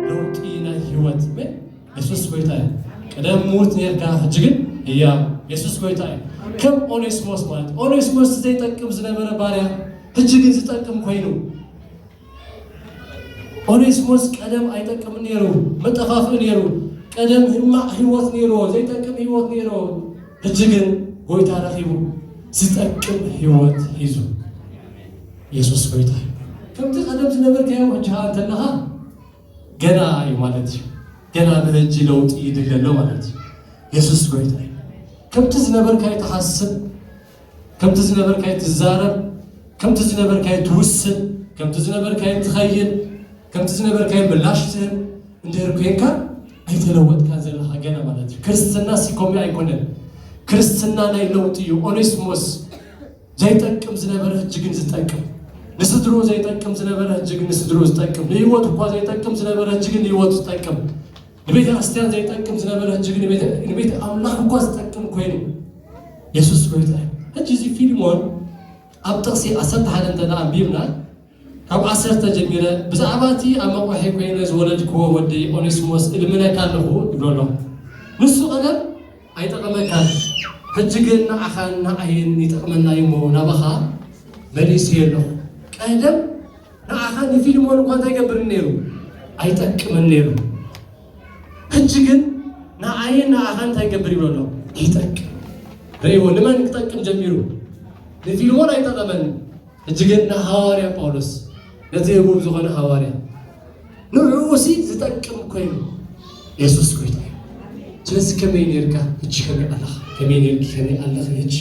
ለውጢ ናይ ህይወት የሱስ ጎይታ እዩ ቅደም ሙት ኔርካ ሕጂ ግን እያ የሱስ ጎይታ እዩ ከም ኦኔስሞስ ማለት ኦኔስሞስ ዘይጠቅም ዝነበረ ባርያ ሕጂ ግን ዝጠቅም ኮይኑ ኦኔስሞስ ቀደም ኣይጠቅምን ነይሩ፣ መጠፋፍኢ ነይሩ፣ ቀደም ህማቅ ህይወት ነይርዎ፣ ዘይጠቅም ህይወት ነይርዎ፣ ሕጂ ግን ጎይታ ረኺቡ ዝጠቅም ህይወት ሒዙ። የሱስ ጎይታ እዩ። ከምቲ ቀደም ዝነበርካዮ ሕጂ ኸኣ እንተለኻ ገና እዩ ማለት እዩ። ገና ብሕጂ ለውጢ ይድለ ኣሎ ማለት እዩ። የሱስ ጎይታ እዩ። ከምቲ ዝነበርካዮ ትሓስብ ከምቲ ዝነበርካዮ ትዛረብ፣ ከምቲ ዝነበርካዮ ትውስን፣ ከምቲ ዝነበርካዮ ትኸይድ፣ ከምቲ ዝነበርካዮ ምላሽ ትህብ እንድህር ኮይንካ ኣይተለወጥካን ዘለኻ ገና ማለት እዩ። ክርስትና ሲኮሜ ኣይኮነን። ክርስትና ናይ ለውጢ እዩ። ኦኔስሞስ ዘይጠቅም ዝነበረ ሕጂ ግን ዝጠቅም ንስድሮ ዘይጠቅም ዝነበረ ሕጂ ግን ንስድሮ ዝጠቅም ንህይወት እኳ ዘይጠቅም ዝነበረ ሕጂ ግን ንህይወት ዝጠቅም ንቤተ ክርስቲያን ዘይጠቅም ዝነበረ ሕጂ ግን ንቤተ ኣምላኽ እኳ ዝጠቅም ኮይኑ የሱስ ጎይታ እዩ ሕጂ እዚ ፊልሞን ኣብ ጥቕሲ ዓሰርተ ሓደ እንተ ኣንቢብና ካብ ዓሰርተ ጀሚረ ብዛዕባ እቲ ኣብ መቑሒ ኮይነ ዝወለድክዎ ወዲ ኦኔስሞስ እልምነካ ኣለኹ ይብሎ ኣሎ ንሱ ቀደም ኣይጠቐመካን ሕጂ ግን ንዓኻን ንዓይን ይጠቕመና እዩሞ ናባኻ መሊሱ የሎ ቀደም ንዓኻ ንፊልሞን እኳ እንታይ ይገብርን ነይሩ? ኣይጠቅምን ነይሩ። ሕጂ ግን ንዓይን ንዓኻን እንታይ ይገብር ይብሎ ኣሎ? ይጠቅም። ርእይዎ፣ ንመን ክጠቅም ጀሚሩ? ንፊልሞን ኣይጠቐመን። ሕጂ ግን ንሃዋርያ ጳውሎስ ነቲ ህቡብ ዝኾነ ሃዋርያ ንዕኡሲ ዝጠቅም ኮይኑ የሱስ ጎይታ እዩ ስለዚ ከመይ ነርካ ህጂ ከመይ ኣለኻ ከመይ ነርኪ ከመይ ኣለኺ ህጂ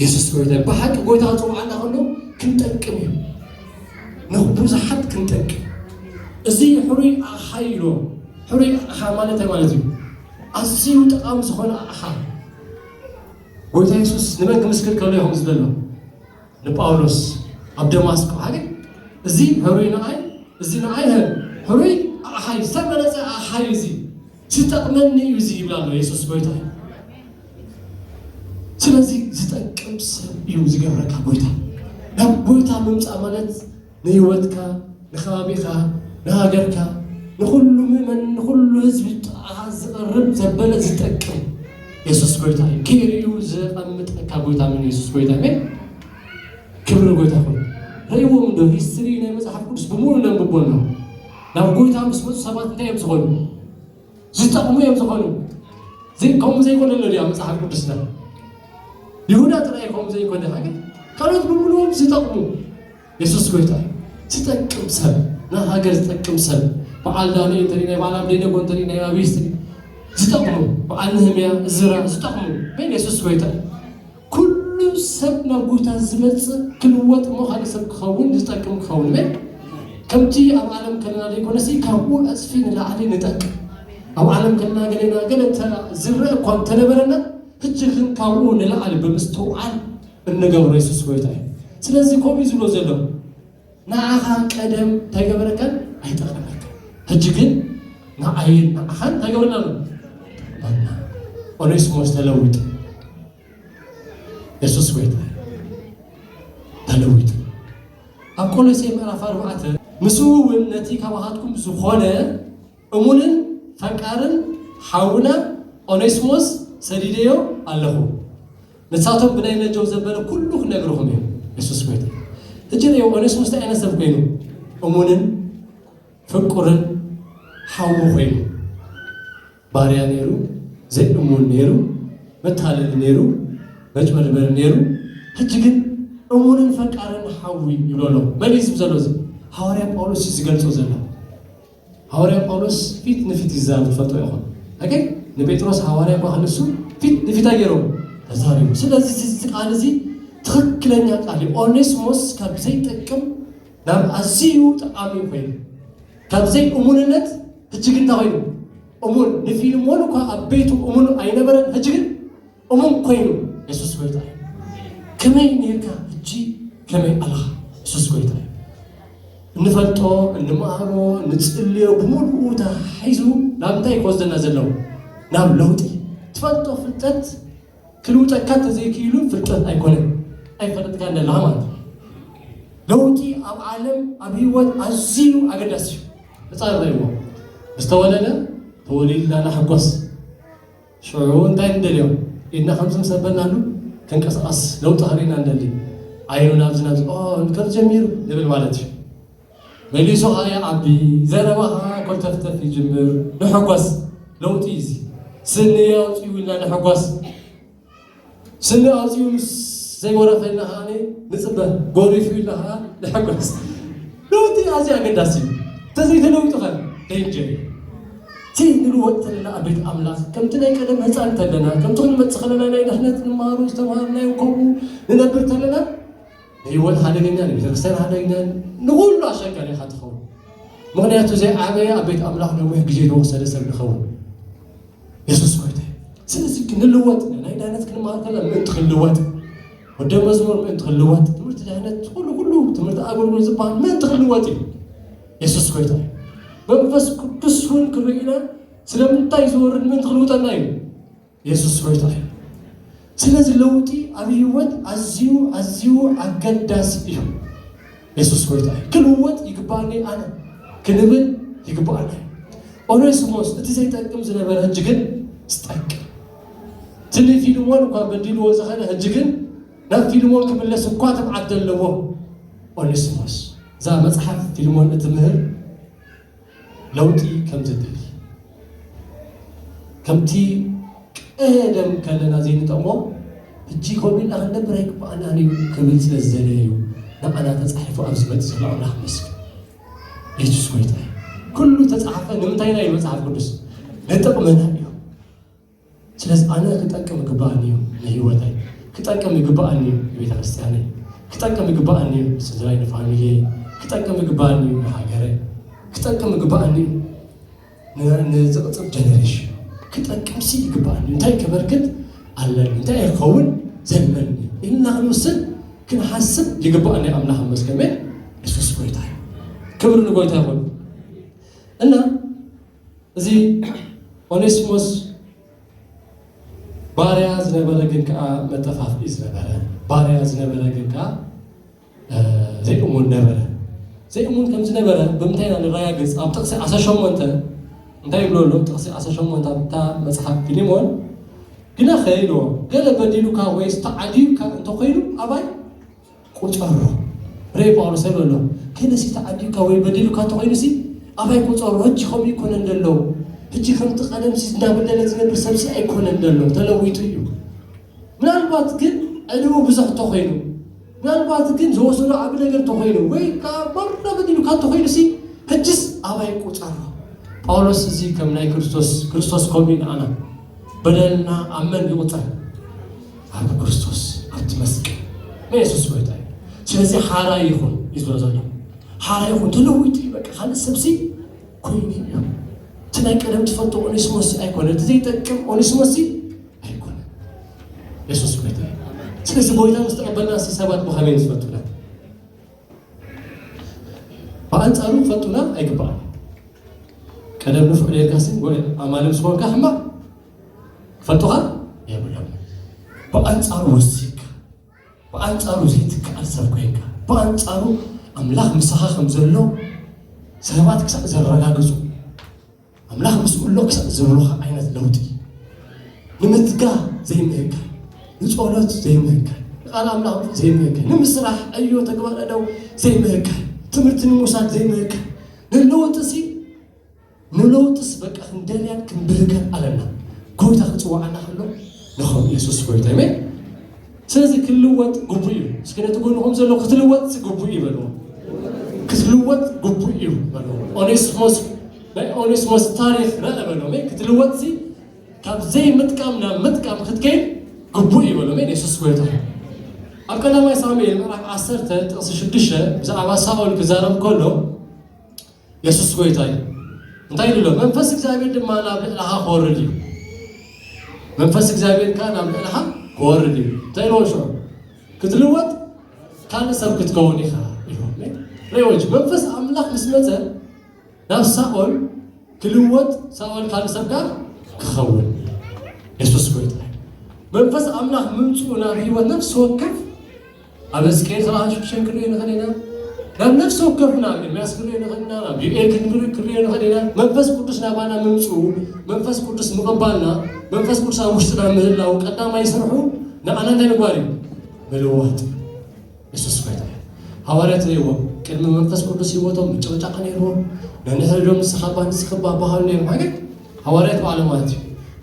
የሱስ ጎይታ እዩ ብሓቂ ጎይታ ክፅውዓና ከሎ ክንጠቅም እዩ ንብዙሓት ክንጠቅም እዚ ሕሩይ ኣቕሓ ኢሎ ሕሩይ ኣቕሓ ማለት ማለት እዩ ኣዝዩ ጠቓሚ ዝኾነ ኣቕሓ ጎይታ የሱስ ንመን ክምስክር ከሎ ይኹም ዝበሎ ንጳውሎስ ኣብ ደማስቆ ሃገር እዚ ሕሩይ ንኣይ እዚ ንኣይ ሀ ሕሩይ ኣሓይ ዝተመረፀ ኣሓይ እዚ ዝጠቅመኒ እዩ እዚ ይብላ ኣሎ የሱስ ጎይታ እዩ ስለዚ ዝጠቅም ሰብ እዩ ዝገብረካ ጎይታ ናብ ጎይታ ምምፃእ ማለት ንህይወትካ፣ ንከባቢኻ፣ ንሃገርካ፣ ንኹሉ ምእመን፣ ንኹሉ ህዝቢ ጥቓኻ ዝቐርብ ዘበለ ዝጠቅም የሱስ ጎይታ እዩ። ክኢልዩ ዘቐምጠካ ጎይታ ምን የሱስ ጎይታ ሜ ክብሪ ጎይታ ኮይኑ ረይዎም እንዶ ሂስትሪ ናይ መጽሓፍ ቅዱስ ብምሉ ነንብቦ ኣሎ ናብ ጎይታ ምስ መፁ ሰባት እንታይ እዮም ዝኾኑ ዝጠቕሙ እዮም ዝኾኑ ከምኡ ዘይኮነ ኣሎ ድያ መፅሓፍ ቅዱስና ይሁዳ ጥራይ ከምኡ ዘይኮነ ሃገር ካልኦት ብምሉኦም ዝጠቕሙ የሱስ ጎይታ እዩ ዝጠቅም ሰብ ንሃገር ዝጠቅም ሰብ በዓል ዳንኤል እንተሪኢ ናይ በዓል ኣብደይነጎ እንተሪኢ ናይ ኣብይ ዝጠቕሙ በዓል ንህምያ እዝራ ዝጠቕሙ ግን የሱስ ጎይታ እዩ ኩሉ ሰብ ናብ ጎይታ ዝመጽእ ክልወጥ እሞ ካልእ ሰብ ክኸውን ዝጠቅም ክኸውን እሜን ከምቲ ኣብ ዓለም ከለና ዘይኮነሲ ካብኡ ዕጽፊ ንላዕሊ ንጠቅም ኣብ ዓለም ከለና ገሌና ገለ ዝረእ እኳ እንተነበረና ሕጂ ግን ካብኡ ንላዕሊ ብምስትውዓል እንገብሮ የሱስ ጎይታ እዩ ስለዚ ከምኡ ዝብሎ ዘሎ ንዓኻ ቀደም እንታይ ገበረካን ኣይጠቐመካን ሕጂ ግን ንዓይን ንዓኻን እንታይ ገበረና ኣሎ ጠቕመና ኦኔስሞስ ተለዊጡ የሱስ ጎይታ ተለዊጡ ኣብ ቆሎሴ ምዕራፍ ኣርባዕተ ምስኡ እውን ነቲ ካባኻትኩም ዝኾነ እሙንን ፈቃርን ሓውና ኦኔስሞስ ሰዲደዮ ኣለኹ። ንሳቶም ብናይ ነጆም ዘበለ ኩሉ ክነግርኹም እዮም። የሱስ ጎይታ እዩ። ሕጂ ርእዮ ኦኔስሞስ እንታይ ዓይነት ሰብ ኮይኑ እሙንን ፍቁርን ሓዊ ኮይኑ ባርያ ነይሩ፣ ዘይእሙን ነይሩ፣ መታለሊ ነይሩ፣ መጭበርበሪ ነይሩ። ሕጂ ግን እሙንን ፈቃርን ሓዊ ይብሎ ኣሎ። መን እዩ ዝብ ዘሎ እዚ? ሃዋርያ ጳውሎስ እዩ ዝገልጾ ዘሎ። ሃዋርያ ጳውሎስ ፊት ንፊት ይዛረብ ትፈልጦ ይኾን ኦኬ ንጴጥሮስ ሃዋርያ እኳ ክንሱ ፊት ንፊት ኣየሮም ተዛሪቡ ስለዚ እዚ ቃል እዚ ትኽክለኛ ቃል እዩ ኦኔስሞስ ካብ ዘይጠቅም ናብ ኣዝዩ ጠቃሚ ኮይኑ ካብ ዘይ እሙንነት ህጂ ግን እንታይ ኮይኑ እሙን ንፊልሞን እኳ ኣብ ቤቱ እሙን ኣይነበረን ህጂ ግን እሙን ኮይኑ የሱስ ጎይታ እዩ ከመይ ኔርካ ሕጂ ከመይ ኣለኻ የሱስ ጎይታ እዩ እንፈልጦ እንመሃሮ ንጽልዮ ብምሉኡ ተሓሒዙ ናብ እንታይ ክወስደና ዘለዎ ናብ ለውጢ ትፈልጦ ፍልጠት ክልውጠካ እንተዘይክኢሉ ፍልጠት ኣይኮነን ኣይፈለጥካ ኣለኻ ማለት እዩ ለውጢ ኣብ ዓለም ኣብ ህይወት ኣዝዩ ኣገዳሲ እዩ ህፃን ረእዎ ምስ ተወለደ ተወሊድና ንሕጎስ ሽዑ እንታይ ንደልዮ ኢድና ከምዚ ምስ ኣበልናሉ ክንቀሳቐስ ለውጢ ከርእየና ንደሊ ዓይኑ ናብዚ ናብዚ ኦ ከምዚ ጀሚሩ ንብል ማለት እዩ መሊሱ ከዓ ይዓቢ ዘረባ ከዓ ኮልተፍተፍ ይጅምር ንሕጎስ ለውጢ እዩ እዚ ስኒ ኣውፅኡ ኢልና ንሕጎስ ስኒ ኣውጺኡ ምስ ዘይወረፈ ኢልና ከኣ ንጽበ፣ ጎሪፉ ኢልና ከኣ ንሕጎስ። ለውጢ ኣዝዩ ኣገዳሲ እዩ፣ እንተዘይተለዊጡ ከ ደንጀር እዩ። ዘይንልወጥ እንተለና ኣብ ቤት ኣምላኽ ከምቲ ናይ ቀደም ህጻን እንተለና ከምቲ ክንመጽእ ከለና ናይ ድሕነት ንመሃሩ ዝተምሃርናዮ ከምኡ ንነብር እንተለና ንህይወት ሓደገኛ ንቤተክርስትያን ሓደገኛ ንኹሉ ኣሸጋሪ ኢኻ ትኸውን። ምክንያቱ ዘይዓበየ ኣብ ቤት ኣምላኽ ነዊሕ ግዜ ዝወሰደ ሰብ ንኸውን የሱስ ጎይታ እዩ ስለዚ ክንልወጥ ናይ ዳነት ክንመሃር ከለና ምእንቲ ክንልወጥ ወደ መዝሙር ምእንቲ ክንልወጥ ትምህርቲ ድሕነት ኩሉ ኩሉ ትምህርቲ ኣገልግሎት ዝበሃል ምእንቲ ክንልወጥ እዩ የሱስ ጎይታ እዩ መንፈስ ቅዱስ እውን ክርእና ስለምንታይ ዝወርድ ምእንቲ ክንውጠና እዩ የሱስ ጎይታ እዩ ስለዚ ለውጢ ኣብ ህይወት ኣዝዩ ኣዝዩ ኣገዳሲ እዩ። የሱስ ጎይታ እዩ። ክልወጥ ይግብኣኒ ኣነ ክንብል ይግብኣና እዩ። ኦኔስሞስ እቲ ዘይጠቅም ዝነበረ ሕጂ ግን ዝጠቅም ትልይ ፊልሞን እኳ በዲልዎ ዝኸነ ሕጂ ግን ናብ ፊልሞን ክምለስ እኳ ትብዓት ዘለዎ ኦኔስሞስ እዛ መጽሓፍ ፊልሞን እትምህር ለውጢ ከም ዘድሊ ከምቲ ቀደም ከለና ዘይንጠቕሞ ሕጂ ከምኡ ኢልና ክንነብር ኣይግባኣናን እዩ ክብል ስለ ዝደለየ እዩ ንዓና ተፃሒፉ ኣብ ዝመፅ ዘሎ ኣምላኽ መስገን የሱስ ጎይታ እዩ ኩሉ ተፃሓፈ ንምንታይና እዩ መፅሓፍ ቅዱስ ንጥቕመና እዩ ስለዚ ኣነ ክጠቅም ይግባኣኒ እዩ ንህይወተይ ክጠቅም ይግባኣኒ እዩ ንቤተክርስትያነይ ክጠቅም ይግባኣኒ እዩ ንስድራይ ንፋሚልየይ ክጠቅም ይግባኣኒ እዩ ንሃገረይ ክጠቅም ይግባኣኒ እዩ ንዝቕፅል ጀነሬሽን ክጠቅም ሲ ይግባኣኒ እንታይ ከበርክት ኣለኒ እንታይ ክኸውን ዘለኒ ኢልና ክንውስን ክንሓስብ ይግባኣኒ ኣምላኽ መስገመ የሱስ ጎይታ እዩ ክብሪ ንጎይታ ይኹን እና እዚ ኦኔስሞስ ባርያ ዝነበረ ግን ከዓ መጠፋፍኢ ዝነበረ ባርያ ዝነበረ ግን ከዓ ዘይእሙን ነበረ ዘይእሙን ከም ዝነበረ ብምንታይ ኢና ንረጋግፅ ኣብ ጥቕሲ 18 እንታይ ይብሎ ኣሎ ጥቕሲ 18 ኣብታ መፅሓፍ ፊሊሞን ግናኸ ኢልዎ ገለ በዲሉካ ወይስ ተዓዲዩካ እንተኮይኑ ኣባይ ቁጸሮ ሬ ጳውሎስ ታይ በሎ ከነሲ ተዓዲብካ ወይ በዲሉካ ተኮይኑሲ ኣባይ ቁጸሮ ህጂ ከምኡ ይኮነን ደሎ ህጂ ከምቲ ቀደምሲ እንዳበደለ ዝነብር ሰብሲ ኣይኮነን ደሎ ተለዊጡ እዩ ምናልባት ግን ዕድሙ ብዙሕ ተኮይኑ ምናልባት ግን ዝወሰዶ ዓቢ ነገር ተኮይኑ ወይ ከዓ መረ በዲሉካ ተኮይኑሲ ህጅስ ኣባይ ቁጸሮ ጳውሎስ እዚ ከም ናይ ክርስቶስ ክርስቶስ ከምኡ ንኣና በደልና ኣብ መን ይቁጸር ኣብ ክርስቶስ ኣብቲ መስቀል ናይ የሱስ ጎይታ እዩ ስለዚ ሓራ ይኹን እዩ ዝበሎ ዘሎ ሓራ ይኹን ተለዊጡ እዩ በቃ ካልእ ሰብሲ ኮይኑ እዩ እቲ ናይ ቀደም ትፈልጦ ኦኔስሞስ ኣይኮነ እቲ ዘይጠቅም ኦኔስሞስ ኣይኮነ የሱስ ጎይታ እዩ ስለዚ ጎይታ ምስ ተቐበልና ሲ ሰባት ብኸመይ ዝፈልጡና ብኣንፃሩ ክፈልጡና ኣይግባእ ቀደም ንፍዑ ሌልካሲ ኣማልም ዝኾንካ ሕማቕ ክፈልጡኻ የብሎም ብኣንጻሩ ወሲካ ብኣንጻሩ ዘይትከኣል ሰብ ኮይንካ ብኣንጻሩ ኣምላኽ ምሳኻ ከም ዘሎ ሰባት ክሳዕ ዘረጋግጹ ኣምላኽ ምስ ኩሎ ክሳዕ ዝብሉኻ ዓይነት ለውጢ ንምትጋ ዘይምህካ ንጸሎት ዘይምህካ ንቃል ኣምላኽ ዘይምህካ ንምስራሕ ዕዮ ተግባረ ደው ዘይምህካ ትምህርቲ ንምውሳድ ዘይምህካ ንለውጢ ሲ ንለውጥስ በቃ ክንደልያን ክንብህገን ኣለና ጎይታ ክፅዋዓና ከሎ ንኸም ኢየሱስ ጎይታ ይሜ ስለዚ ክልወጥ ግቡእ እዩ እስኪ ነቲ ጎንኹም ዘሎ ክትልወጥ ግቡእ እዩ በልዎ ክትልወጥ ግቡእ እዩ በልዎ ኦኔስሞስ ናይ ኦኔስሞስ ታሪክ ረአ በሎ ክትልወጥ ሲ ካብ ዘይምጥቃም ናብ ምጥቃም ክትከይድ ግቡእ እዩ በሎ ኢየሱስ ጎይታ ኣብ ቀዳማይ ሳሙኤል ምዕራፍ ዓሰርተ ጥቕሲ ሽዱሽተ ብዛዕባ ሳኦል ክዛረብ ከሎ የሱስ ጎይታ እዩ እንታይ ኢሉ ኣሎ መንፈስ እግዚኣብሔር ድማ ናብ ልዕልኻ ክወርድ እዩ መንፈስ እግዚኣብሔር ከዓ ናብ ልዕልኻ ክወርድ እዩ እንታይ ኢልዎ ሽዑ ክትልወጥ ካልእ ሰብ ክትከውን ኢኻ ኢልዎ ሬዎች መንፈስ ኣምላኽ ምስ መፀ ናብ ሳኦል ክልወጥ ሳኦል ካልእ ሰብ ጋር ክኸውን የሱስ ጎይታ እዩ መንፈስ ኣምላኽ ምምፅኡ ናብ ህይወት ነፍሲ ወከፍ ኣበስ ከይ ተባህሽ ክሸን ክንሪኦ ንኽእል ኢና ናብ ነፍሲ ወከፍ ናብ ኤርምያስ ክንሪኦ ንኽእል ኢና ናብ ዩኤል ክንሪኦ ንኽእል ኢና መንፈስ ቅዱስ ናባና ምምፅኡ መንፈስ ቅዱስ ምቕባልና መንፈስ ቅዱስ ኣብ ውሽጥና ምህላው ቀዳማይ ስርሑ ንኣና እንታይ ምግባር እዩ ምልዋጥ ንሱስ ኮይታ ሃዋርያት ነይዎ ቅድሚ መንፈስ ቅዱስ ህይወቶም ምጭቕጫቕ ነይርዎ ነንሕድዶም ንስኻ ባ ንስኺ ባ ባህሉ ነይሩ ማለት ሃዋርያት በዓሎም ማለት እዩ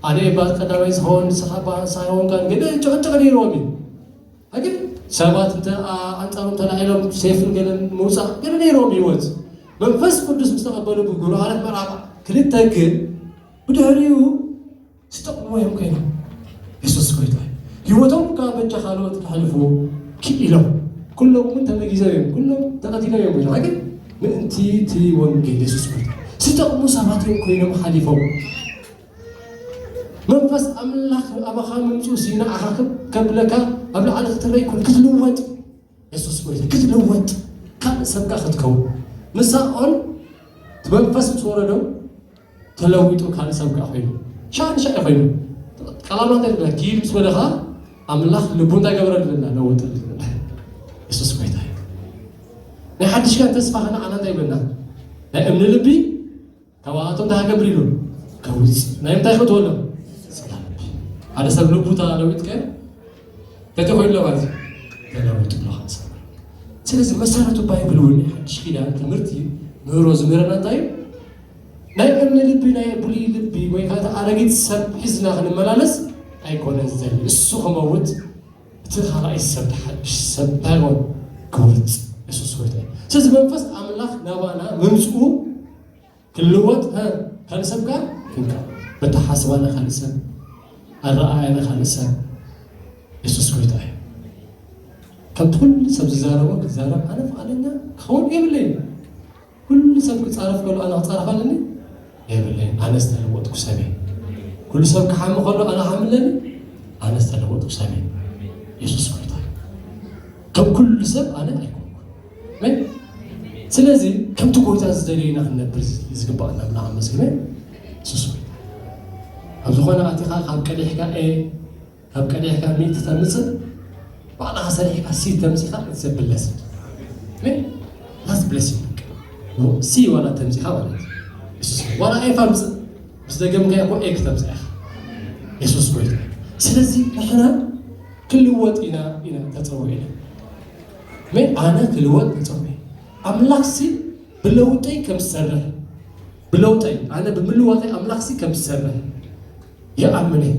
ኣነ ባ ቀዳማይ ዝኸውን ንስኻ ባ ሳይሆን ጋር ግን ጭቕጭቕ ነይርዎም እዩ ኣግን ሰባት እንተ ኣንጻሮም ተላዒሎም ሴፍን ገለን ምውጻእ ገለ ነይሮም ህይወት መንፈስ ቅዱስ ምስ ተቐበሉ ብግብሩ ሃለት ምዕራፍ ክልተ ግን ብድሕሪኡ ዝጠቕሙ እዮም ኮይኖም የሱስ ጎይታ ህይወቶም ካብ በጃ ካልኦት ክሕልፉ ክኢሎም ኩሎም እውን ተመጊዘው እዮም ኩሎም ተቐቲሎም እዮም ኮይኖም ግን ምእንቲ እቲ ወንጌል የሱስ ጎይታ ዝጠቕሙ ሰባት እዮም ኮይኖም ሓሊፎም መንፈስ ኣምላኽ ኣባኻ ምምፅኡ ሲናዓኻ ከብለካ ኣብ ላዕሊ ክትረይ ኩን ክትልወጥ የሱስ ጎይታ ክትልወጥ ካልእ ሰብካ ክትከውን ንሳኦል መንፈስ ምስ ወረዶ ተለዊጡ ካልእ ሰብካ ኮይኑ ሻንሻ እዩ ኮይኑ ቀላማት የለ ኪድ ምስ በለኻ ኣምላኽ ልቡ እንታይ ገበረልና ለወጠልና የሱስ ጎይታ እዩ ናይ ሓድሽ ጋር ተስፋ ከነዓና እንታይ ይብለና ናይ እምኒ ልቢ ካባኣቶም እንታይ ክገብር ኢሉ ከዊፅ ናይ ምንታይ ክትወሎ ሓደ ሰብ ልቡ ተለዊጥ ከ በቲ ኮይሎ ማለት እዩ ተለዊጡ ብሎ ክንሰማ ስለዚ መሰረቱ ባይብል እውን ሓድሽ ኪዳን ትምህርቲ ምህሮ ዝምህረና እንታይ እዩ ናይ እምኒ ልቢ ናይ ብሉይ ልቢ ወይ ከዓ ኣረጊት ሰብ ሒዝና ክንመላለስ ኣይኮነን ዝደሊ እሱ ክመውት እቲ ካልኣይ ሰብ ብሓድሽ ሰብ ባይሮን ክወጽእ የሱስ ጎይታ እዩ ስለዚ መንፈስ ኣምላኽ ናባና ምምጽኡ ክልወጥ ካልእ ሰብ ጋር ክንካ በተሓስባና ካልእ ሰብ ኣረኣያና ካልእ ሰብ የሱስ ጎይታ እዩ ከምቲ ኩሉ ሰብ ዝዛረቦ ክዛረብ ኣነ ፍቓደኛ ክኸውን የብለይ ኩሉ ሰብ ክጻረፍ ከሎ ኣነ ክጻረፍ ኣለኒ የብለይ ኣነ ዝተለወጥኩ ሰብ እየ ኩሉ ሰብ ክሓሚ ከሎ ኣነ ክሓሚ ኣለኒ ኣነ ዝተለወጥኩ ሰብ እየ የሱስ ጎይታ እዩ ከም ኩሉ ሰብ ኣነ ኣይኮንኩን ስለዚ ከምቲ ጎይታ ዝደለዩና ክንነብር ዝግባኣና ብና ኣመስግነ የሱስ ጎይታ ኣብ ዝኾነ ኣቲኻ ካብ ቀሊሕካ ኤ ካብ ቀዲሕካ ሚእቲ ተምፅእ ባዕልኻ ሰሪሕካ ሲ ተምፂኻ ኢትስ ብለሲንግ ምን ላስት ብለሲንግ ሲ ዋላ ተምፂኻ ማለት እዩ ዋላ ኤፍ ኣምፅእ ምስ ደገምካዮ እኮ ኤ ክተምፅእ ኢኻ የሱስ ጎይታ ስለዚ ንሕና ክልወጥ ኢና ኢና ተፀውዒ ኢና ምን ኣነ ክልወጥ ተፀውዒ ኣምላኽ ሲ ብለውጠይ ከም ዝሰርሕ ብለውጠይ ኣነ ብምልዋጠይ ኣምላኽ ሲ ከም ዝሰርሕ ይኣምን እየ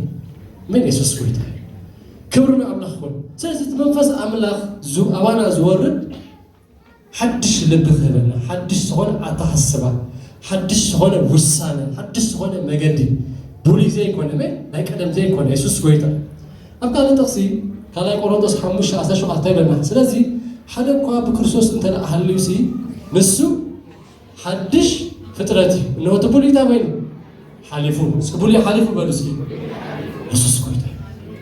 ምን የሱስ ጎይታ እዩ ክብሪ ንኣምላኽ ይኹን ስለዚ እቲ መንፈስ ኣምላኽ ኣባና ዝወርድ ሓድሽ ልቢ ክህበና ሓድሽ ዝኾነ ኣተሓስባ ሓድሽ ዝኾነ ውሳነ ሓድሽ ዝኾነ መገዲ ብሉይ ዘይኮነ መ ናይ ቀደም ዘይኮነ የሱስ ጎይታ ኣብ ካልእ ጥቕሲ ካልኣይ ቆሮንቶስ ሓሙሽተ ዓሰርተ ሸውዓተ ይበልና ስለዚ ሓደ እኳ ብክርስቶስ እንተ ሃልዩሲ ንሱ ሓድሽ ፍጥረት እዩ። እነሆ እቲ ብሉይ እንታይ ኮይኑ ሓሊፉ። እስኪ ብሉይ ሓሊፉ በሉ እስኪ። የሱስ ጎይታ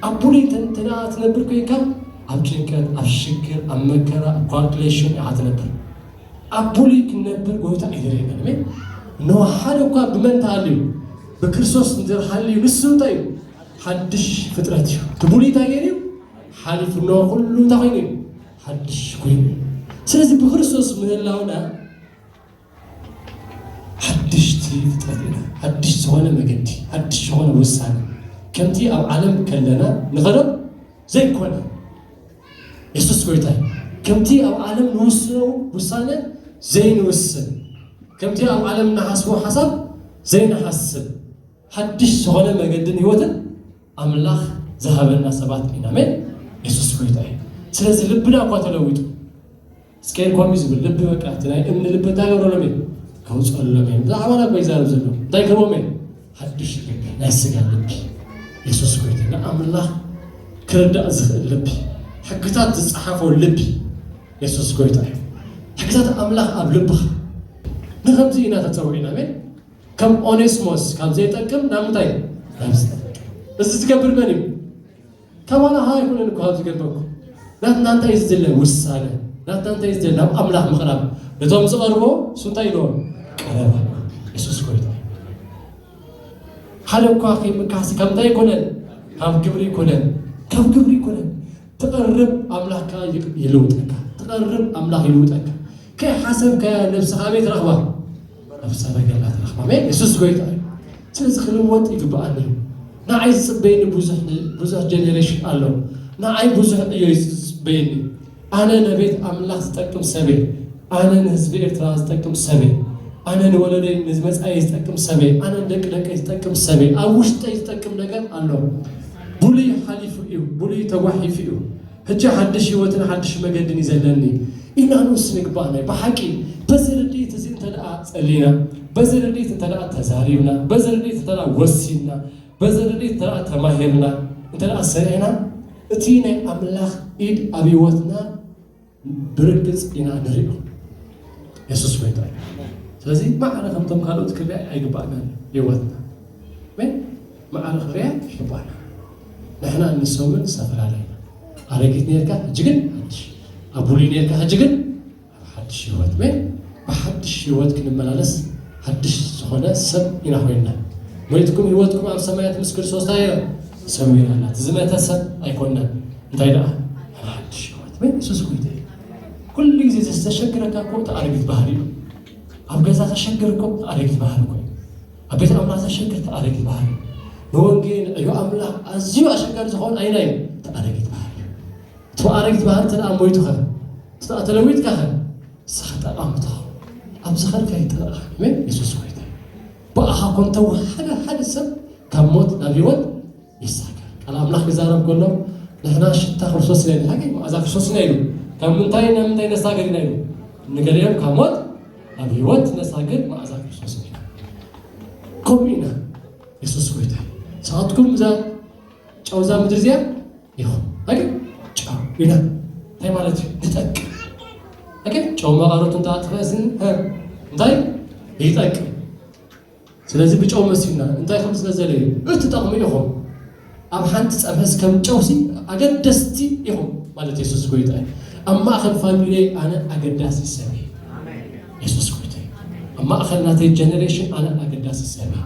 ኣብ ብሉይ እንተ ትነብር ኮይንካ ኣብ ጭንቀት፣ ኣብ ሽግር፣ ኣብ መከራ፣ ኣብ ኳልኩሌሽን ኢኻ ትነብር። ኣብ ብሉይ ክንነብር ጎይታ ኣይደለየና ሜ እነሆ ሓደ እኳ ብመን ተሃልዩ ብክርስቶስ እንተሃልዩ ንሱ እንታይ እዩ ሓድሽ ፍጥረት እዩ። እቲ ብሉይ እንታይ ገይሩ ሓሊፉ እነሆ ኩሉ እንታይ ኮይኑ እዩ ሓድሽ ኮይኑ ስለዚ ብክርስቶስ ምህላውና ሓድሽቲ ፍጥረት ኢና ሓድሽ ዝኾነ መገዲ ሓድሽ ዝኾነ ውሳነ ከምቲ ኣብ ዓለም ከለና ንኸረብ ዘይኮነ የሱስ ጎይታ ከምቲ ኣብ ዓለም ንውስኖ ውሳነ ዘይንውስን ከምቲ ኣብ ዓለም ንሓስቦ ሓሳብ ዘይንሓስብ ሓድሽ ዝኾነ መገድን ህይወትን ኣምላኽ ዝሃበና ሰባት ኢና ኣሜን የሱስ ጎይታ እዩ ስለዚ ልብና እኳ ተለዊጡ ስኬር ኮሚ ዝብል ልቢ በቃ እቲ ናይ እምኒ ልቢ እንታይ ገብረሎም እዩ ከውፅኣሎም እዮም ብዛዕባና እኮ ይዛረብ ዘሎ እንታይ ክህቦም እዮም ሓድሽ ልቢ ናይ ስጋ ልቢ የሱስ ኮይኑ ንኣምላኽ ክርዳእ ዝኽእል ልቢ ሕግታት ዝፀሓፎ ልቢ የሱስ ጎይታ እዩ ሕግታት ኣምላኽ ኣብ ልብኻ ንከምዚ ኢና ተፀዊዕና ሜን ከም ኦኔስሞስ ካብ ዘይጠቅም ናብ እንታይ ናብ ዝጠቅም እዚ ዝገብር መን እዩ? ተባላሃ ኣይኮነን እኮ ኣብዚ ገበኩ ናትና እንታይ እዩ ዝድለ ውሳነ ናትና እንታይ እዩ ዝድለ ናብ ኣምላኽ ምቕራብ ነቶም ዝቐርቦ እሱ እንታይ ኢልዎም ቀረባ የሱስ ጎይታ ሓደ እኳ ከይምካሲ ካብ እንታይ ኣይኮነን ካብ ግብሪ ይኮነን ካብ ግብሪ ይኮነን ትቐርብ ኣምላኽ ከዓ ይልውጠካ ትቐርብ ኣምላኽ ይልውጠካ ከይሓሰብካያ ነብስኻ ኣበይ ትረኽባ መናፍስት ኣገልጋላት ንረኽብ ኣሜን የሱስ ጎይታ እዩ ስለዚ ክልወጥ ይግብኣኒ እዩ ንዓይ ዝፅበየኒ ብዙሕ ብዙሕ ጀኔሬሽን ኣሎ ንዓይ ብዙሕ ዕዮ እዩ ዝፅበየኒ ኣነ ነቤት ኣምላኽ ዝጠቅም ሰበ ኣነ ንህዝቢ ኤርትራ ዝጠቅም ሰበ ኣነ ንወለደይ ንዝመፃየ ዝጠቅም ሰበ ኣነ ንደቂ ደቀይ ዝጠቅም ሰበ ኣብ ውሽጠይ ዝጠቅም ነገር ኣሎ ብሉይ ሓሊፉ እዩ ብሉይ ተጓሒፉ እዩ ሕጂ ሓድሽ ህይወትን ሓድሽ መገድን እዩ ዘለኒ ኢልና ንውስን ይግበኣና እዩ። ብሓቂ በዚ ርድኢት እዚ እንተደኣ ጸሊና፣ በዚ ርድኢት እንተደኣ ተዛሪብና፣ በዚ ርድኢት እንተደኣ ወሲንና፣ በዚ ርድኢት እንተደኣ ተማሂርና፣ እንተደኣ ሰሪሕና እቲ ናይ ኣምላኽ ኢድ ኣብ ህይወትና ብርግጽ ኢና ንሪኦ። የሱስ ጎይታ እዩ። ስለዚ ማዕረ ከምቶም ካልኦት ክርኣ ኣይግባእናን ህይወትና ማዕረ ክብርያት ይሕባና ንሕና ንሶምን ዝተፈላለዩ ኢና ኣረጊት ነርካ ሕጂ ግን ሓድሽ ኣብ ብሉይ ነርካ ሕጂ ግን ኣብ ሓድሽ ህይወት ወይ ብሓድሽ ህይወት ክንመላለስ ሓድሽ ዝኾነ ሰብ ኢና ኮይንና ሞይትኩም ህይወትኩም ኣብ ሰማያት ምስ ክርስቶስ ታየ ሰሚና ኣላ ዝመተ ሰብ ኣይኮንናን እንታይ ደኣ ኣብ ሓድሽ ህይወት ወይ ንሱስ ጎይታ እዩ ኩሉ ግዜ ዘስተሸግረካ እኮ እቲ ኣረጊት ባህሪ እዩ ኣብ ገዛ ከሸግር እኮ እቲ ኣረጊት ባህሪ እኮ እዩ ኣብ ቤት ኣምላኽ ዘሸግር ተኣረጊት ባህሪ ንወንጌል ዕዮ ኣምላኽ ኣዝዩ ኣሸጋሪ ዝኾን ኣይና እዩ ተኣረጊት ባህሪ እቲ ኣረጊት ባህሪ እንተ ደኣ ሞይቱ ኸ እቲ ደኣ ተለዊጥካ ኸ ንስኻ ጠቓሚ ትኸውን ኣብ ዝኸድካ ይጠልቓ ኣሜን የሱስ ጎይታ እዩ ብኣኻ ኮንተ ሓደ ሓደ ሰብ ካብ ሞት ናብ ህይወት ይሳካ ቃል ኣምላኽ ክዛረብ ከሎ ንሕና ሽታ ክርስቶስ ኢና ኢልና ገይሩ ኣዛ ክርስቶስ ኢና ኢሉ ካብ ምንታይ ናብ ምንታይ ነሳግር ኢና ኢሉ ንገሊኦም ካብ ሞት ኣብ ህይወት ነሳግር መኣዛ ክርስቶስ ኢና ከምኡ ኢና የሱስ ጎይታ ሰዓትኩም እዛ ጨውዛ ምድሪ እዚኣ ይኹን ኣገ ጨው ኢና እንታይ ማለት እዩ ንጠቅም ኣገ ጨው መቐረቱ እንተኣጥፈ እዚ እንታይ ይጠቅም ስለዚ ብጨው መሲልና እንታይ ከም ስለዘለዩ እትጠቕሙ ኢኹም ኣብ ሓንቲ ፀብሕስ ከም ጨውሲ ኣገደስቲ ኢኹም ማለት የሱስ ጎይታ እዩ ኣብ ማእኸል ፋሚሊይ ኣነ ኣገዳሲ ሰብ እዩ የሱስ ጎይታ እዩ ኣብ ማእኸል ናተይ ጀኔሬሽን ኣነ ኣገዳሲ ሰብ እዩ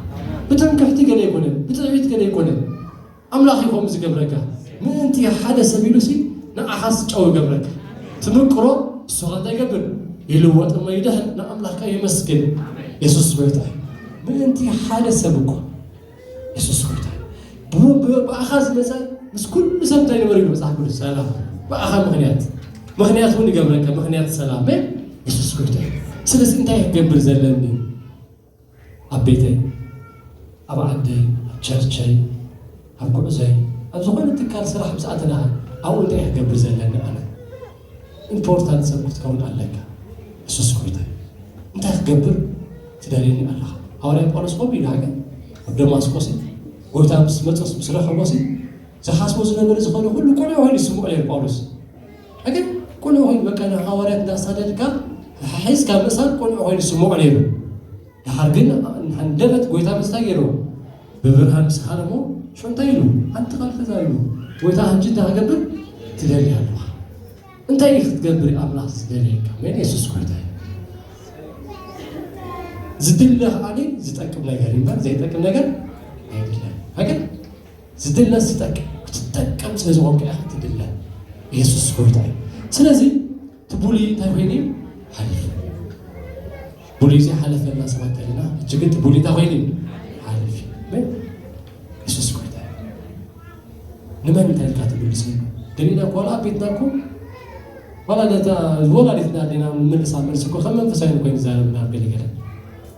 ብትምክሕቲ ገለ ኣይኮነን ብትዕቢት ገለ ኣይኮነን ኣምላኽ እዩ ከምኡ ዝገብረካ ምእንቲ ሓደ ሰብ ኢሉሲ ንዓኻስ ጨው ይገብረካ ትምቅሮ እሱኻ እንታይ ይገብር ይልወጥ እሞ ይድሕን ንኣምላኽካ የመስግን የሱስ ጎይታ እዩ ምእንቲ ሓደ ሰብ እኮ የሱስ ጎይታ ብኣኻ ዝመፀ ምስ ኩሉ ሰብ እንታይ ንበሩ ኢሉ መፅሓፍ ቅዱስ ሰላም ብኣኻ ምክንያት ምክንያት እውን ይገብረካ ምክንያት ሰላም የሱስ ጎይታ እዩ ስለዚ እንታይ ክገብር ዘለኒ ኣብ ቤተይ፣ ኣብ ዓደይ፣ ኣብ ቸርቸይ፣ ኣብ ጉዕዞይ፣ ኣብ ዝኾነ ትካል ስራሕ ምስ ኣተናኻ ኣብኡ እንታይ እየ ክገብር ዘለኒ ኣነ? ኢምፖርታንት ሰብ ክትከውን ኣለካ። እሱስ ጎይታ እዩ። እንታይ ክገብር ትደልየኒ ኣለኻ? ሃዋርያ ጳውሎስ ከምኡ ኢሉ ሃገር ኣብ ደማስቆስ ጎይታ ምስ መፀስ ምስ ረኸቦሲ ዝሓስቦ ዝነበረ ዝኾነ ኩሉ ቁልዕ ኮይኑ ይስምዖ ነይሩ ጳውሎስ ሕግን ቁልዑ ኮይኑ በቃ ንሃዋርያት እንዳሳደድካ ሒዝካ ምእሳር ቁልዑ ኮይኑ ዝስምዖ ነይሩ ድሓር ግን ሃንደበት ጎይታ ምስታይ ገይርዎ ብብርሃን ምስኻን እሞ ሽዑ እንታይ ኢሉ ሓንቲ ቃል ተዛሪቡ ጎይታ ሕጂ እንታይ ክገብር ትደሊ ኣለኻ እንታይ እዩ ክትገብር ኣምላኽ ዝደልየካ መን የሱስ ጎይታ እዩ ዝድለ ከዓኒ ዝጠቅም ነገር እምበር ዘይጠቅም ነገር ኣይድለን ሃገር ዝድለ ዝጠቅም ክትጠቅም ስለ ዝኾንካ ኢኻ ትድለ የሱስ ጎይታ እዩ ስለዚ እቲ ቡሊ እንታይ ኮይኑ እዩ ሓሊፉ ቡሊ እዚ ሓለፈና ሰባት ተለና እጅ ግን እቲ ቡሊ እንታይ ኮይኑ እዩ ሓሊፉ ግን የሱስ ጎይታ እዩ ንመን እንታይ ኢልካ ትምልስ ገሊና ኮላ ቤትና እኮ ዋላ ነታ ወላዲትና ዲና ንምልሳ መልሲ እኮ ከም መንፈሳዊ ኮይኑ ዛረብና ገለገለ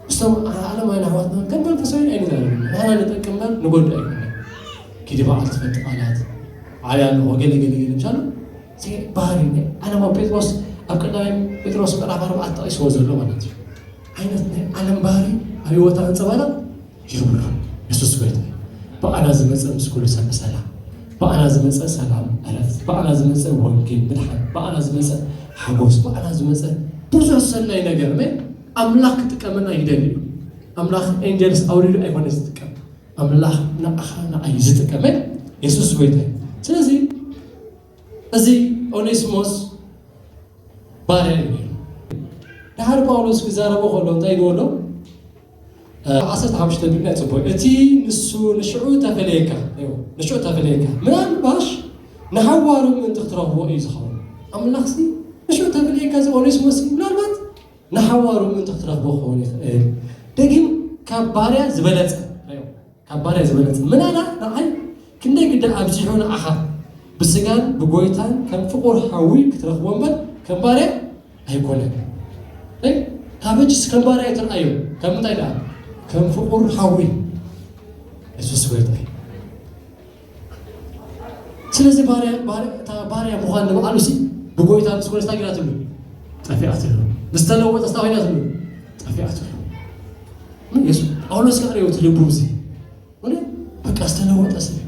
ምስቶም ዓለማውያን ኣሕዋትና ከም መንፈሳውያን ኣይንዛረብ ንሕና ንጠቅም እምበር ንጎድእ ኣይኮነ ኪዲ በዓል ትፈቲ ቃላት ዓብያ ኣለዎ ገለ ገለ ገለ ምሻሉ ባህሪ ናይ ዓለማዊ ጴጥሮስ ኣብ ቀዳማይ ጴጥሮስ ምዕራፍ ኣርባዕተ ጠቂስዎ ዘሎ ማለት እዩ ዓይነት ናይ ዓለም ባህሪ ኣብ ህይወታ ኣንፀባረቕ ይብሉ የሱስ ጎይታ እዩ ብኣና ዝመፀ ምስ ኩሉ ሰብ ብሰላም ብኣና ዝመፀ ሰላም ዕረፍቲ ብኣና ዝመፀ ወንጌል ምድሓን ብኣና ዝመፀ ሓጎስ ብኣና ዝመፀ ብዙሕ ሰናይ ነገር ምን ኣምላኽ ክጥቀመና ይደሊ እዩ። ኣምላኽ ኤንጀልስ ኣውሪዱ ኣይኮነ ዝጥቀም ኣምላኽ ንኣኻ ንኣይ ዝጥቀመ የሱስ ጎይታ እዩ። ስለዚ እዚ ኦኔስሞስ ባርያ እዩ ነይሩ። ድሓር ጳውሎስ ክዛረቦ ከሎ እንታይ ይበሎ ዓሰርተ ሓሙሽተ ቢልና ጽቡቅ እቲ ንሱ ንሽዑ ተፈለየካ ንሽዑ ተፈለየካ ምናልባሽ ንሓዋሩ ምእንቲ ክትረኽቦ እዩ ዝኸውን ኣምላኽሲ ንሽዑ ተፈለየካ እዚ ኦኔስሞስ ምናልባት ንሓዋሩ ምእንቲ ክትረኽቦ ክኸውን ይኽእል ደጊም ካብ ባርያ ዝበለጸ ካብ ባርያ ዝበለጸ ምናላ ንዓይ ክንደይ ግደ ኣብዚሑ ንዓኻ ብስጋን ብጎይታን ከም ፍቑር ሓዊ ክትረኽቦ እምበር ከም ባርያ ኣይኮነን ካብ ሕጅስ ከም ባርያ ኣይትርኣዮ ካብ ምንታይ ደኣ ከም ፍቑር ሓዊ የሱስ ጎይታ እዩ ስለዚ ባርያ ባር- እታ ባርያ ምዃን ንበዓሉ ሲ ብጎይታ ምስ ኮነስ እንታይ ጌራትሉ ጠፊኣትሉ ምስ ተለወጠ ስታ ኮይናትሉ ጠፊኣትሉ ምን የሱ ጳውሎስ ከዓ ሪኦ እቲ ልቡ እዚ ወደ በቃ ዝተለወጠ ሰብ እዩ።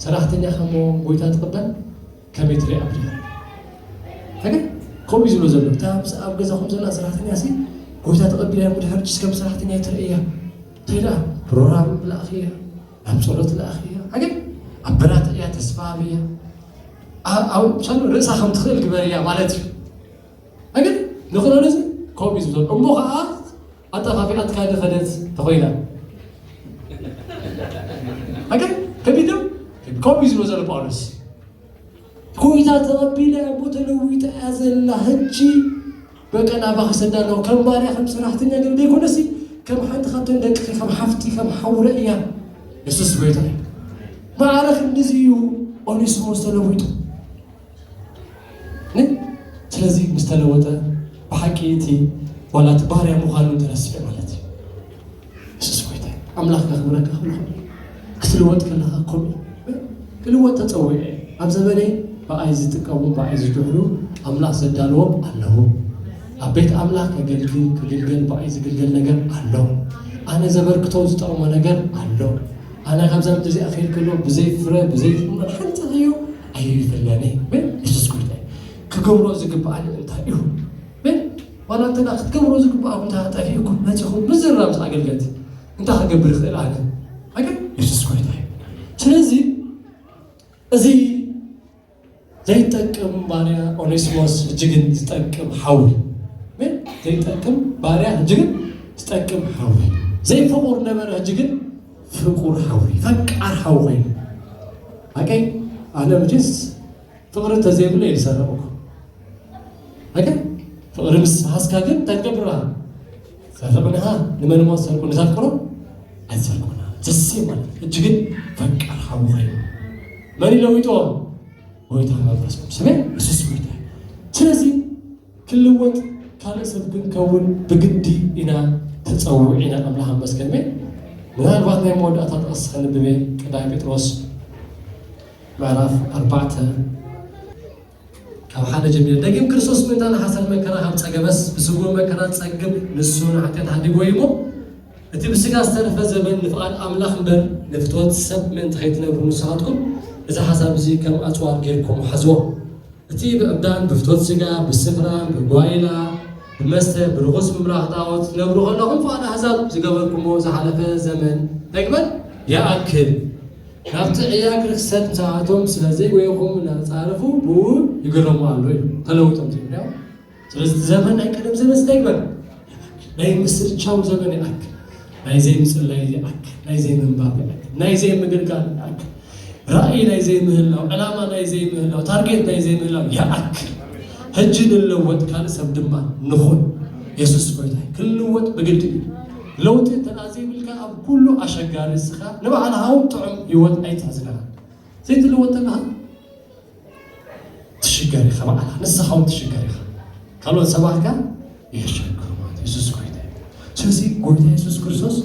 ሰራሕተኛ ከሞ ጎይታ ትቕበል ከመይ ትሪኣ ብድያ ተገ ከምኡ እዩ ዝብሎ ዘሎ እታ ምስ ኣብ ገዛኹም ዘላ ሰራሕተኛ ሲ ጎይታ ተቐቢላ እያ ድሕር ጭስ ከም ሰራሕተኛ ይትርእያ ተዳ ፕሮግራም ብላእኺ እያ ኣብ ጸሎት ለኣኽ እያ ዓገብ ኣብ ብራት እያ ተስፋ ኣብያ ኣብ ሻኑ ርእሳ ከም ትኽእል ግበር እያ ማለት እዩ ኣገብ ንክረን እዚ ከምኡ እዩ ዝብሎ እሞ ከዓ ኣጠፋፊኣትካ ዝኸደት ተኾይና ኣገብ ከቢድ ነው ከምኡ እዩ ዝብሎ ዘሎ ጳውሎስ ኮይታ ተቐቢላ እሞ ተለዊጣ እያ ዘላ ሕጂ በቃ ናባኻ ክሰዳ ኣለኹ ከም ባርያ ከም ሰራሕተኛ ገለ ዘይኮነሲ ከም ሓንቲ ካብተን ደቅኺ ከም ሓፍቲ ከም ሓው ረእያ ንሱስ ጎይታ እዩ ማዕረ ክንዲዚ እዩ ኦኔስሞስ ተለዊጡ ን ስለዚ ምስ ተለወጠ ብሓቂ እቲ ዋላ እቲ ባርያ ምዃኑ ተረሲዑ ማለት እዩ የሱስ ጎይታ ኣምላኽ ከኽብረካ ከለኹ ክትልወጥ ከለኻ ከምኡ ክልወጥ ተጸዊዐ እየ ኣብ ዘበነይ ብኣይ ዝጥቀሙ ብኣይ ዝድሕሉ ኣምላኽ ዘዳለዎም ኣለዉ ኣብ ቤት ኣምላኽ ከገልግል ክግልገል ብኣይ ዝግልገል ነገር ኣሎ ኣነ ዘበርክቶ ዝጠቕሞ ነገር ኣሎ ኣነ ካብዛ ምድሪ እዚኣ ክይድ ከሎ ብዘይ ፍረ ብዘይ ፍመን ሓንቲ እዩ ኣይፍለኒ ን የሱስ ጎይታ ክገብሮ ዝግብኣኒ እንታይ እዩ ዋላ እንተ ክትገብርዎ ዝግብኣኩም እንተ ጠፊኡኩም መጺኹም ምዝርራብ ምስ ኣገልገልቲ እንታይ ክገብር ይኽእል ኣነ ኣገ የሱስ ጎይታ እዩ ስለዚ እዚ ዘይጠቅም ባርያ ኦኔሲሞስ እጅግን ዝጠቅም ሓዊ ምን ዘይጠቅም ባርያ እጅግን ዝጠቅም ሓዊ ዘይፍቁር ነበረ እጅግን ፍቁር ሓዊ ፈቃር ሓዊ ኮይኑ ኣቀይ ኣነ መቼስ ፍቕሪ እንተዘይብሉ እየ ዝሰርቕ ኣይከ ፍቕሪ ምስ ሃስካ ግን እንታይ ትገብር ኢኻ ሰርቕንኻ ንመን እሞ ሰርቁ ንተፍቅሮ ኣይትሰርቁና ዘሴ ማለት እጅ ግን ፈቃር ሓዊ ኮይኑ መን ይለዊጦ ጎይታ መንፈስ ቅዱስ ሰሜ የሱስ ጎይታ ስለዚ ክልወጥ ካልእ ሰብ ክንከውን ብግዲ ኢና ተጸዊዒና ኣምላኽ ኣመስገን እሜ ምናልባት ናይ መወዳእታ ጥቕስ ከንብብ እየ ቀዳይ ጴጥሮስ ምዕራፍ ኣርባዕተ ካብ ሓደ ጀሚረ ደጊም ክርስቶስ ምእንታና ሓሳድ መከራ ካብ ጸገበስ ብስጉር መከራ ጸግብ ንሱ ንሓጢኣት ሓዲጎ እዩ እሞ እቲ ብስጋ ዝተረፈ ዘበን ንፍቓድ ኣምላኽ እምበር ንፍትወት ሰብ ምእንቲ ከይትነብሩ ንስኻትኩም እዚ ሓሳብ እዚ ከም ኣጽዋር ጌርኩም ሓዝዎ። እቲ ብዕብዳን ብፍትወት ስጋ ብስኽራን ብጓይላ ብመስተ ብርኹስ ምምራኽ ጣኦት ክትነብሩ ከለኹም ፍቓድ ኣህዛብ ዝገበርኩሞ ዝሓለፈ ዘመን እንታይ ግበር ይኣክል ናብቲ ዕያግ ርኽሰት ምስኣቶም ስለ ዘይጎየኹም እናተጻረፉ ብኡ ይግረሙ ኣሎ ኢሉ ተለውጦም ዘይብልያው ስለዚ እቲ ዘመን ናይ ቀደም ዘመን ዝተግበረ ናይ ምስርቻው ዘመን ይኣክ ናይ ዘይምፅላይ ይኣክ ናይ ዘይምንባብ ይኣክ ናይ ዘይምግልጋል ይኣክ ራእይ ናይ ዘይምህላው ዕላማ ናይ ዘይምህላው ታርጌት ናይ ዘይምህላው ይኣክ ሕጂ ንለወጥ ካልእ ሰብ ድማ ንኹን የሱስ ጎይታ ክንልወጥ ብግዲ እዩ ለውጢ እንተ ዘይብልካ ኣብ ኩሉ ኣሸጋሪ እስኻ ንባዕልኻ እውን ጥዑም ህይወት ኣይትሕዝና ዘይትልወጥ ተለኻ ትሽገር ኢኻ በዓልካ ንስኻ እውን ትሽገር ኢኻ ካልኦት ሰባት ከ የሸግሩ ማለት የሱስ ጎይታ እዩ ስለዚ ጎይታ የሱስ ክርስቶስ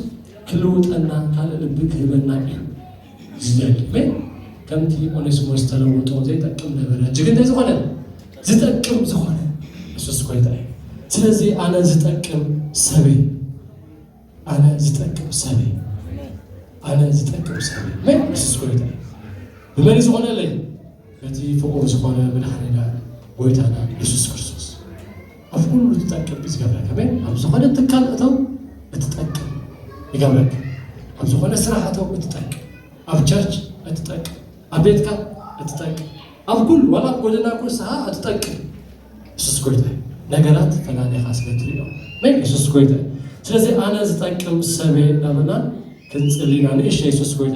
ክልውጠና ካልእ ልቢ ክህበና እዩ ዝደሊ ሜን ከምቲ ኦኔስሞስ ተለውጦ ዘይጠቅም ነበረ እጅግ እንታይ ዝኾነ ዝጠቅም ዝኾነ የሱስ ጎይታ እዩ ስለዚ ኣነ ዝጠቅም ሰብ እዩ ኣነ ዝጠቅም ሰብ እየ ኣነ ዝጠቅም ሰብ እየ መን የሱስ ጎይታ እዩ ብመን ዝኾነለይ በቲ ፍቑር ዝኾነ መድሓኒና ጎይታና የሱስ ክርስቶስ ኣብ ኩሉ ትጠቅም እዩ ዝገብረካ መን ኣብ ዝኾነ ትካል እተው እትጠቅም ይገብረካ ኣብ ዝኾነ ስራሕ እተው እትጠቅም ኣብ ቸርች እትጠቅም ኣብ ቤትካ እትጠቅም ኣብ ኩሉ ዋላ ኣብ ጎደና ኩስኻ እትጠቅም የሱስ ጎይታ እዩ ነገራት ፈላሊኻ ስለ ትሪኦ መን የሱስ ጎይታ እዩ ስለዚ ኣነ ዝጠቅም ሰበ እናበልና ክንፅልና ንእሽ የሱስ ጎይታ